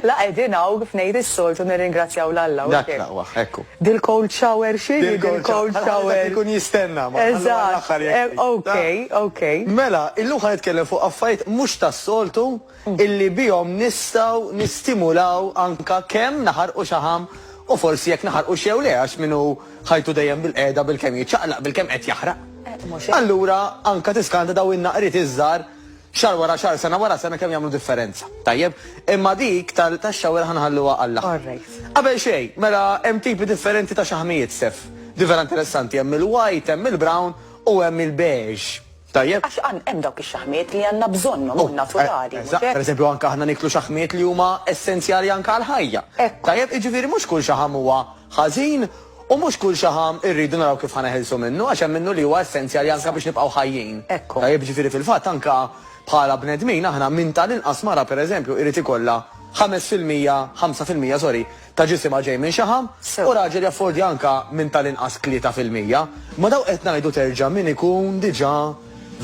La qegħdin hawn kif ngħid is-soltu nirringrazzjaw l Alla. Dak laqwa, ekku. Dil-cold shower xi dil-cold shower. Ikun jistenna ma. Eżatt. Eh, ok, ok. Mela, illum ħa nitkellem fuq affarijiet mhux tas-soltu. illi bihom nistgħu nistimulaw anke kemm naħarqu xaħam u forsi jekk naħarqux jew le għax min hu ħajtu dejjem bil-qiegħda bilkemm jiċċaqlaq bilkemm qed jaħraq. Allura anke tiskanta dawn in-naqriet iż-żgħar xahar wara xahar sena wara sena kemm jagħmlu differenza. Tajjeb, imma dik tax-shower ħa nħalluha għall-aħħar. Qabel xejn, mela hemm tipi differenti ta' xaħmijiet, Steph. Di vera interessanti, hemm il-white, hemm il-brown u hemm il-beige. Tajjeb. Għax għan hemm dawk ix-xaħmiet li għandna bżonnhom, huma naturali, mhux hekk? Pereżempju anke aħna niklu xaħmiet li huma essenzjali anke għall-ħajja. Hekk hu. Tajjeb, jiġifieri mhux kull xaħam huwa ħażin u mhux kull xaħam irridu naraw kif ħa neħilsu minnu għax hemm minnu li huwa essenzjali anke biex nibqgħu ħajjin. Hekk hu. Tajjeb, jiġifieri fil-fatt anke bħala bnedmin aħna minn tal-inqas mara pereżempju irid ikollha ħames fil-mija, ħamsa fil-mija, sorry, ta' ġisimha ġej minn xaħam u raġel jaffordja anke minn tal-inqas tlieta fil-mija. Ma' dawk qed ngħidu terġa' min ikun diġà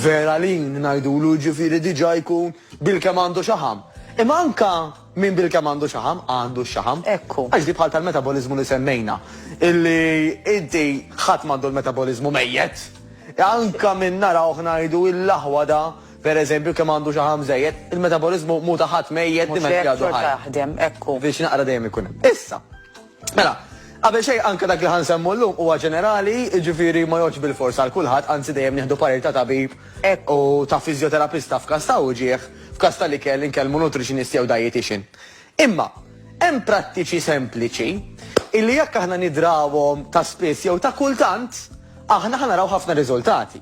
vera lean ngħidulu jiġifieri diġà jkun bilkemm għandu xaħam. Imma anke min bilkemm għandu xaħam għandu x-xaħam. Ekku. Għax di bħal tal-metaboliżmu li semmejna illi inti ħadd m'għandu l-metaboliżmu mejjet. Anke min narawh ngħidu il-aħwa da Per eżempju, kemm għandu xaħam żejjed, il-metaboliżmu mhu ta' ħadd mejjet, dimenti għadu ħaj. Mhux hekk, xorta jaħdem, hekk hu. Viċin aqra dejjem ikun hemm. Issa, mela, qabel xejn anke dak li ħa nsemmu llum huwa ġenerali, jiġifieri ma jgħoddx bilfors għal kulħadd, anzi dejjem nieħdu parir ta' tabib u ta' fiżjoterapista f'każ ta' uġigħ, f'każ tal-ikel inkellmu nutritionist jew dietician. Imma, hemm prattiċi sempliċi illi jekk aħna nidrawhom ta' spiss jew ta' kultant, aħna ħa naraw ħafna riżultati.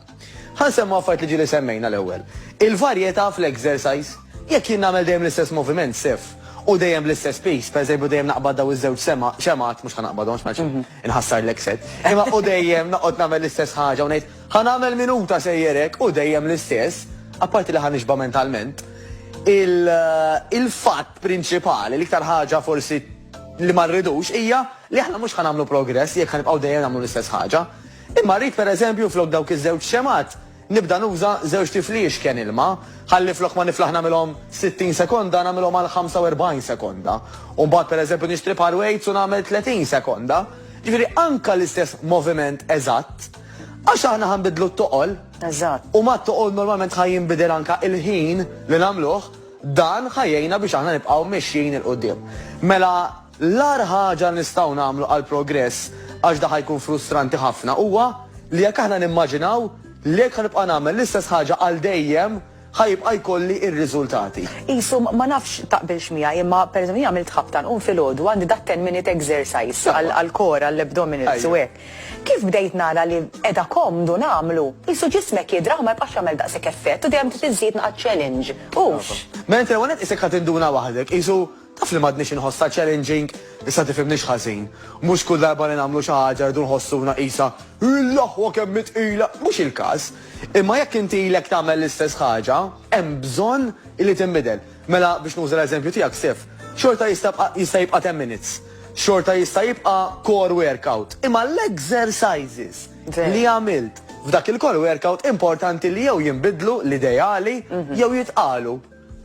Ħa nsemmu affarijiet li ġieli semmejna l-ewwel. Il-varjetà fl-exercise. Jekk jien nagħmel dejjem l-istess moviment, sef, u dejjem bl-istess piż, pereżempju dejjem naqbad dawn iż-żewġ sema, xemgħat, mhux ħa naqbadhom għax ma rridx inħassar l-exet, imma u dejjem noqgħod nagħmel l-istess ħaġa u ngħid, Ħa nagħmel minuta sejjer hekk u dejjem l-istess, apparti li ħa nixba' mentalment. Il-fatt prinċipali, l-iktar ħaġa forsi li ma rridux hija li aħna mhux ħa nagħmlu progress jekk ħa nibqgħu dejjem nagħmlu l-istess ħaġa. Imma rrid pereżempju flok dawk iż-żewġ xemgħat nibda nuża żewġt tifli jixken ilma, ħalli flok ma niflaħ nagħmilhom 60 sekonda nagħmilhom għal 45 sekonda. U mbagħad pereżempju nixtri par weights u nagħmel 30 sekonda. Ġifieri anke l-istess moviment eżatt, Għax aħna ħanbidlu t-toqol. Eżatt. U ma t-toqol normalment ħaj jinbidel anka il-ħin li namluħ, dan ħajjejna biex aħna nibqaw mexxin il-qoddim. Mela, l-ar ħaġa nistaw namlu għal-progress, għax da ħajkun frustranti ħafna, huwa li jekk aħna nimmaġinaw li jekk ħanibqa namel l-istess ħaġa għal dejjem, Ħa jibqa' jkolli r-riżultati. Qishom, ma nafx taqbilx miegħi, imma pereżempju jien għamilt ħabta nqum filgħodu għandi dat ten minute exercise għall-core, għall-abdominals u hekk. Kif bdejt nara li qiegħda komdu nagħmlu, qisu ġismek jidraħ u ma jibqax jagħmel daqshekk effett u dejjem trid iżżid naqgħad challenge. Hux? Mela inti l-ewwel nett qisek ħa tinduna waħdek, qisu Taf li m'għadnix inħossha challenging? Issa tifhimnix ħażin. Mhux kull darba li nagħmlu xi ħaġa rridu nħossuna qisha, Illaħwa kemm hi tqila! Mhux il-każ. Imma jekk inti ilek tagħmel l-istess ħaġa, hemm bżonn illi tinbidel. Mela, biex nuża l-eżempju tiegħek, Sif, xorta jista' jibqa' jista' jibqa' ten minutes. Xorta jista' jibqa' core workout. Imma l-exercises li għamilt f'dak il-core workout importanti li jew jinbidlu l-ideali jew jitqalu.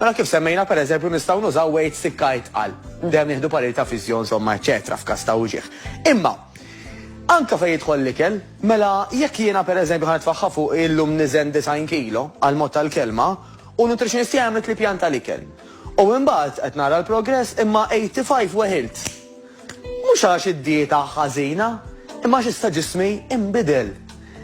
Mela kif semmejna pereżempju nistgħu nużaw weights sikkar tqal, dejjem nieħdu parir ta' fiżjo insomma eċċetera f'każ ta' uġigħ. Imma anke fejn jidħol l-ikel, mela jekk jiena pereżempju ħa nitfaħħa fuqi illum niżen 90 kilo, għall-mod tal-kelma, u nutritionist tiegħi għamlet li pjan tal-ikel. U imbagħad qed nara l-progress imma 85 weħilt. Mhux għax id-dieta ħażina, imma għax issa ġismi inbidel.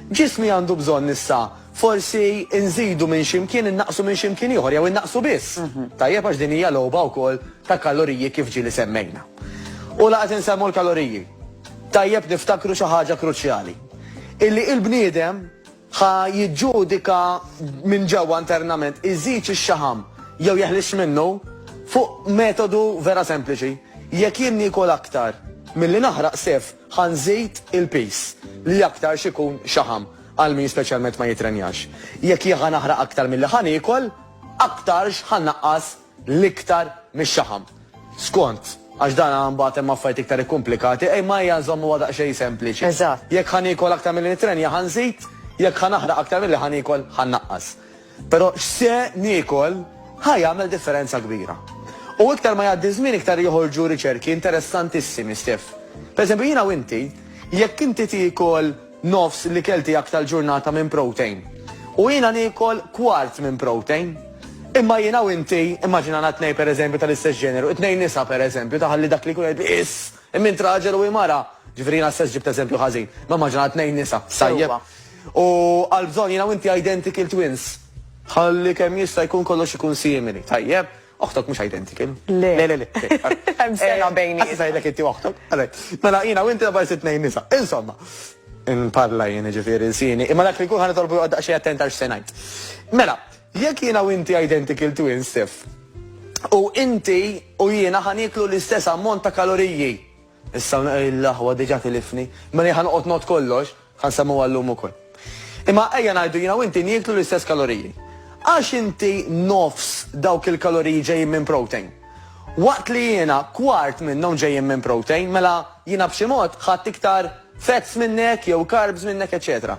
Ġismi għandu bżonn issa Forsi inżidu minn xi mkien innaqqsu minn xi mkien ieħor jew innaqqsu biss. Tajjeb għax din hija logħba wkoll ta' kaloriji kif ġieli semmejna. U la qed insemmu l-kaloriji. Tajjeb niftakru xi ħaġa kruċjali. Illi il-bniedem ħa jiġġudika minn ġewwa internament iżidx ix-xaħam jew jeħlisx minnu fuq metodu vera sempliċi. Jekk jien niekol aktar milli naħraq sefq, Ħa nżid il-piż, li aktarx ikun xaħam, għal min speċjalment ma jitrenjax. Jekk jien ħa naħraq aktar milli ħa niekol, aktarx ħa nnaqqas l-iktar mix-xaħam. Skont, għax dan mbagħad hemm affarijiet iktar ikkumplikati, imma ejja nżommuha daqsxejn sempliċi. Eżatt. Jekk ħa niekol aktar milli nitrenja, ħa nżid, jekk ħa naħraq aktar milli ħa niekol, ħa nnaqqas. Però x'se niekol ħa jagħmel differenza kbira. U iktar ma jgħaddi ż-żmien iktar joħorġu riċerki interessantissimi, Steph. Per eżempju, jiena u inti, jekk inti tiekol nofs l-ikel tiegħek tal-ġurnata minn protein, u jiena niekol kwart minn protein, imma jiena u inti, immaġinana tnejn per eżempju tal-istess ġeneru, it-tnejn nisa per eżempju, ta' ħalli dak li jkun jgħid biss! Imma int raġel u hi mara. Ġifieri jiena stess ġibt eżempju ħażin. Imma immaġina tnejn nisa, tajjeb? U għal bżonn jiena u inti identical twins. Ħalli kemm jista' jkun kollox ikun simili, tajjeb? Oħtok mhux identical. Le. Le, le, le. Hemm sena bejnietna. Issa ngħidlek inti u oħtok. Għalhekk. Mela jiena u inti darb'għada jsir tnejn nisa. Insomma. Inparla jien, jiġifieri lsieni. Imma dak li jkun ħa nitolbu joqgħod daqsxejn attent għal x'se ngħid. Mela. Jekk jiena u inti identical twins if u inti u jiena ħa nieklu l-istess ammont ta' kaloriji. Issa l-aħwa diġà tilifni. Mela jien ħa noqgħod ngħodd kollox, ħa nsemmuha llum ukoll. Imma ejja ngħidu jiena u inti nieklu l-istess kaloriji. Għax inti nofs dawk il-kaloriji ġejjin minn protein. Waqt li jiena kwart minnhom ġejjin minn protein, mela jiena b'xi mod ħadt iktar. fats minnek jew carbs minnek eċċetera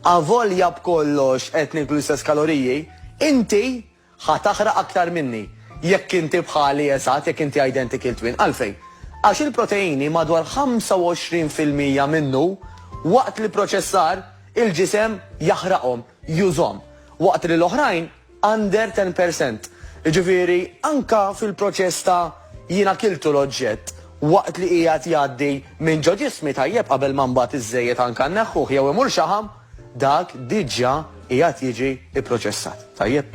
Avolja b'kollox qed niklu l-istess kaloriji, inti ħa taħraq aktar minni jekk inti bħali eżatt jekk inti identical twin. Għalfejn? Għax il-proteini madwar 25 fil-mija minnu waqt l-ipproċessar il-ġisem jaħraqhom, jużhom, waqt li l-oħrajn under ten per cent. Jiġifieri anke fil-proċess ta' jiena kiltu l-oġġett waqt li qiegħed jgħaddi minn ġo ġismi tajjeb qabel ma mbagħad iż-żejjed anke nneħħuh jew imur xaħam, dak diġà qiegħed jiġi pproċessat. Tajjeb?